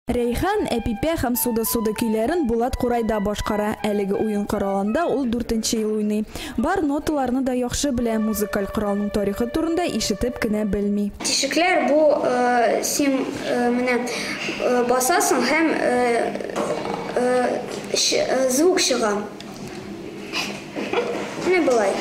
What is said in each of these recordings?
Рәйхан, Әпипә һәм Суда-суда көйләрен Булат Курайда башкара. Әлеге уен коралында ул дүртенче ел уйный. Бар ноталарны да яхшы белә, музыкаль коралның тарихы турында ишетеп кенә белми. Тишекләр бу, син менә басасың һәм звук чыга. Менә болай.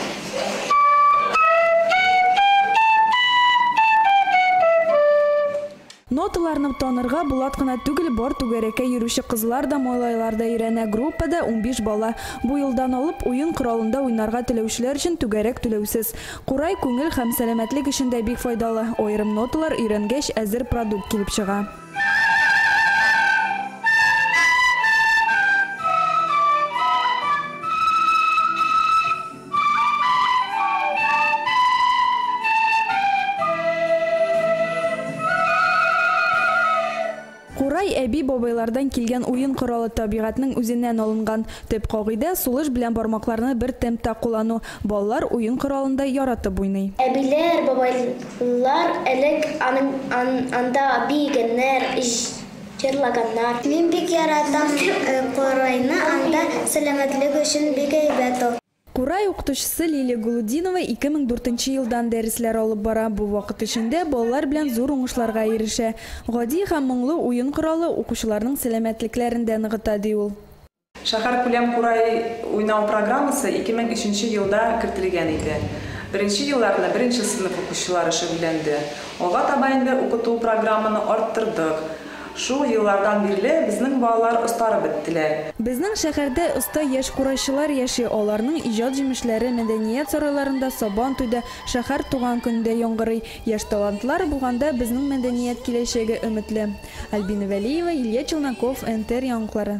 Ноталарны танырга Булат кына түгел, бар түгәрәккә йөрүче кызлар да, малайлар да өйрәнә. Группада унбиш бала. Бу елдан алып, уен коралында уйнарга теләүчеләр өчен түгәрәк түләүсез. Курай күңел һәм сәламәтлек өчен дә бик файдалы. Аерым ноталар өйрәнгәч, әзер продукт килеп чыга. Курай әби-бабайлардан килгән уен коралы табигатьнең үзеннән алынган. Төп кагыйдә, сулыш белән бармакларны бер темпта куллану. Балалар уен коралын да яратып уйный. Әбиләр, бабайлар элек анда биегәннәр, җырлаганнар. Мин бик яратам курайны, анда сәламәтлек өчен бик әйбәт ул. Курай укытучысы Лилия Голудинова ике мең дүртенче елдан дәресләр алып бара, бу вакыт эчендә балалар белән зур уңышларга ирешә. Гади һәм моңлы уен коралы укучыларның сәламәтлекләрен дә ныгыта, ди ул. Шәһәркүләм курай уйнау программасы 2003 елда кертелгән иде. Беренче елларны беренче сыйныф укучылары шөгыльләнде. Алга таба инде укыту программаны арттырдык. Шул еллардан бирле безнең балалар остарып беттеләр. Безнең шәһәрдә оста яшь курайчылар яши, аларның иҗат җимешләре мәдәният сарайларында Сабан туйда, шәһәр туган көнендә яңгырый. Яшь талантлар булганда безнең мәдәният киләчәге өметле. Альбина Вәлиева, Илья Челноков, НТР яңгклары.